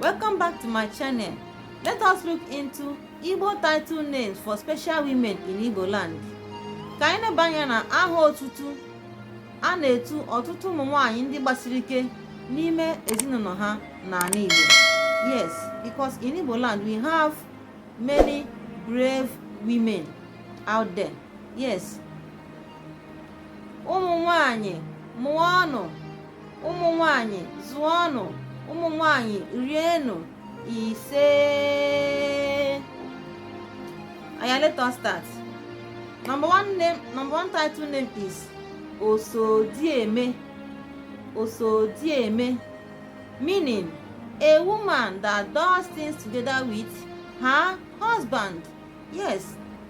Welcome back to my channel. Let us look into Igbo title names for special women in Igbo land. Ka anyị na-abanye na aha otutu a na-etu ọtụtụ ụmụ nwanyị ndị gbasiri ike n'ime ezinụlọ ha n'ala Igbo. Yes, because in Igbo land we have many brave women out there. Yes. Ụmụ nwanyị mụọnụ ụmụ nwanyị zụọnụ ụmụ nwanyị rienụ ise oya let us start number one name number one title name is osodieme osodieme meaning a woman that does things together with her husband yes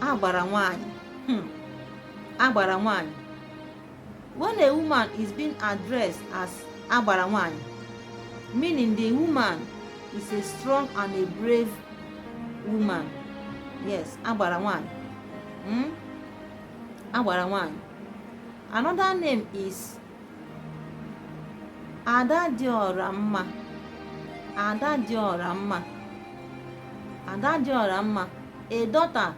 agbara nwanyị hmm. agbara nwanyị when a woman is being addressed as agbara nwanyị meaning the woman is a strong and a brave woman yes agbara nwanyị hmm? agbara nwanyị another name is ada dị ọra mma ada dị ọra mma ada dị ọra mma a daughter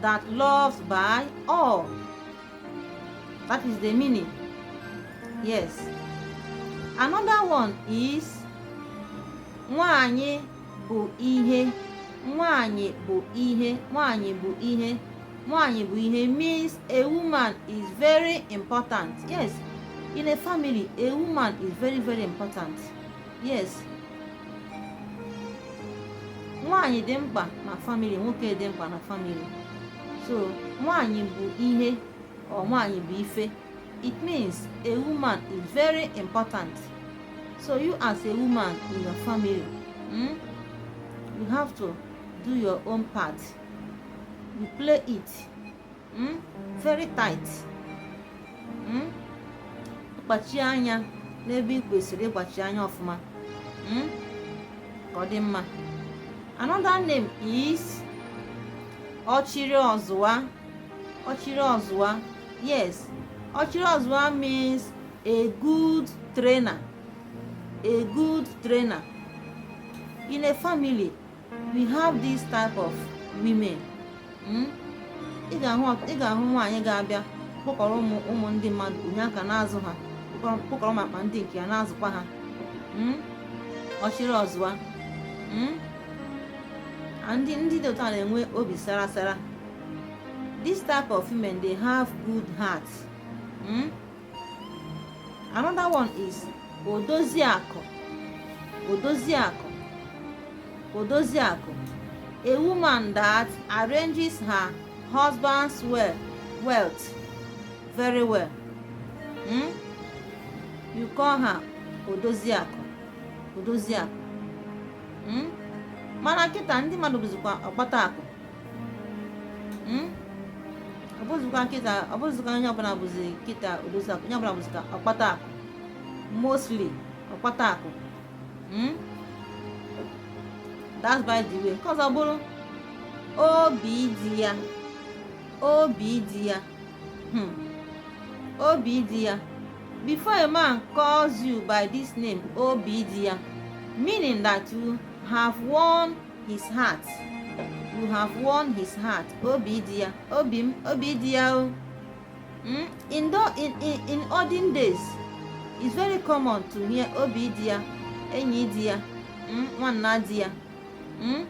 that loves by all that is the meaning yes another one is nwanyị bụ ihe nwanyị bụ ihe nwanyị bụ ihe nwaanyị bụ ihe means a woman is very important yes in a family a woman is very very important yes nwaanyị dị mkpa na family nwoke dị mkpa na family so nwaanyị bụ ihe or nwaanyị bụ ife it means a woman is very important so you as a woman in your family mm, you have to do your own part you play it mm? very tight mm? kpachie anya n'ebe ị kwesịrị ịkpachi anya ọfụma mm? ka ọ dị mma another name is ọchịrị ọzụwa ọchịrị ọzụwa yes ọchịrị ọzụwa means a good trainer a good trainer in a family we have this type of women hmm? ị ga-ahụ nwaanyị ga-abịa kpọkọrọ ụmụ ụmụ ndị mmadụ o nye aka na-azụ ha kpọkọrọ makwa ndị nke ya na-azụkwa ha hmm? ọchịrị ọzụwa hmm? ndị ndị dị otu a na-enwe obi sara sara this type of women they have good heart hmm? another one is odoziakụ odoziakụ odoziakụ a woman that arranges her husband's well wealth very well hmm? you call her odoziakụ odoziakụ hmm? mana kịta ndị mmadụ bụzikwa ọkpata akụ hmm? ọ bụzikwa kịta ọ bụzikwa onye ọbụla bụzi kịta odozi akụ onye ọbụla bụzikwa ọkpata akụ mostly ọkpata akụ hmm? that's by the way nke ọzọ bụrụ obi di ya obi di ya hmm. obi di ya before a man calls you by this name obi di ya meaning that you have won his heart you have won his heart obi di ya obi m obi di ya o hmm? in, the, in, in, in olden days it's very common to hear obi di ya enyi di ya hmm? nwanne di ya hmm?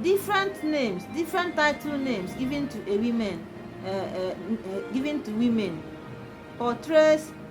different names different title names given to a woman uh, uh, uh, given to women portrays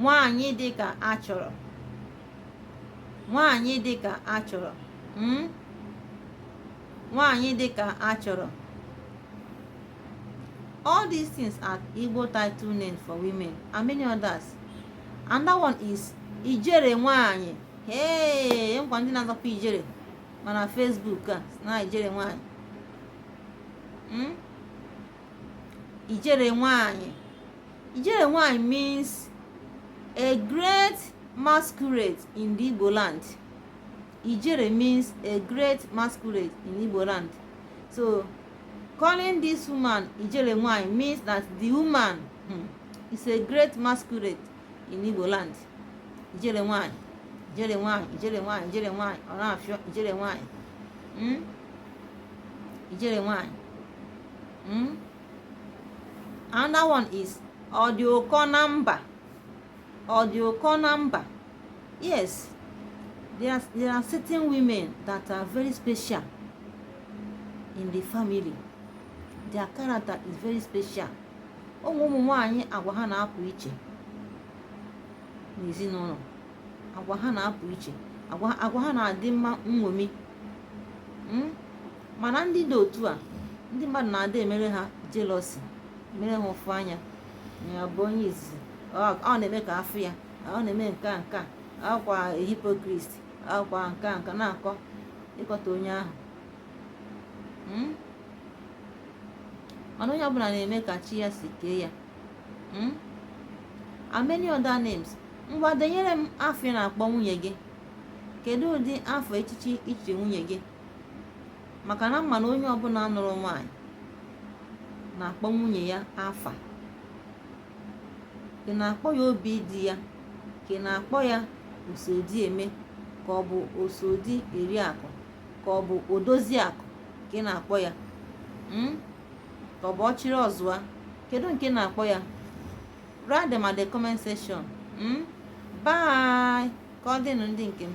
nwaanyị dị ka a chọrọ nwaanyị dị ka a chọrọ hmm? nwaanyị dị ka a chọrọ all these things are Igbo title names for women and many others another one is ijere nwaanyị ee e nkwa ndị na-azọkwa ijere mana Facebook a na ijere nwaanyị hmm? ijere nwaanyị Ijele nwanyị means a great masquerade in the Igbo land. Ijere means a great masquerade in Igbo land. So calling this woman Ijere nwanyị means that the woman hmm, is a great masquerade in Igbo land. Ijere nwanyị, Ijere nwanyị, Ijere nwanyị, Ijere nwanyị, ọ na-afịọ Ijere nwanyị. Hmm? Ijere nwanyị. Hmm? another one is ọ dị ụkọ na mba ọ dị ụkọ na mba yes there are, there are certain women that are very special in the family their character is very special o nwe ụmụ nwanyị agwa ha na-apụ iche n'ezinụlọ agwa ha na-apụ iche agwa ha na-adị mma nṅomi hmm? mana ndị dị otu a ndị mmadụ na-adị emere ha jealousy mere ha ụfụ anya ya bụ onye izizi ọ na-eme ka a fụ ya ọ na-eme nke a nke a akwa hypocrite akwa nke a nke na-akọ ịkọta onye ahụ hmm? mana onye ọbụla na-eme ka chi ya si kee ya hmm? and many other names ngwa denyere m afa ị na-akpọ nwunye gị kedu ụdị afa echichi i chiri nwunye gị maka na m ma na onye ọbụla nụrụ nwaanyị na-akpọ nwunye ya afa ị na-akpọ ya obi di ya ka ị na-akpọ ya oso di eme ka ọ bụ oso di eri akụ ka ọ bụ odozi akụ ka ị na-akpọ ya hmm? ka ọ bụ ọchịrị ọzụa kedu nke ị na-akpọ ya write them at the comment section hmm? bye ka ọ dịnụ ndị nke m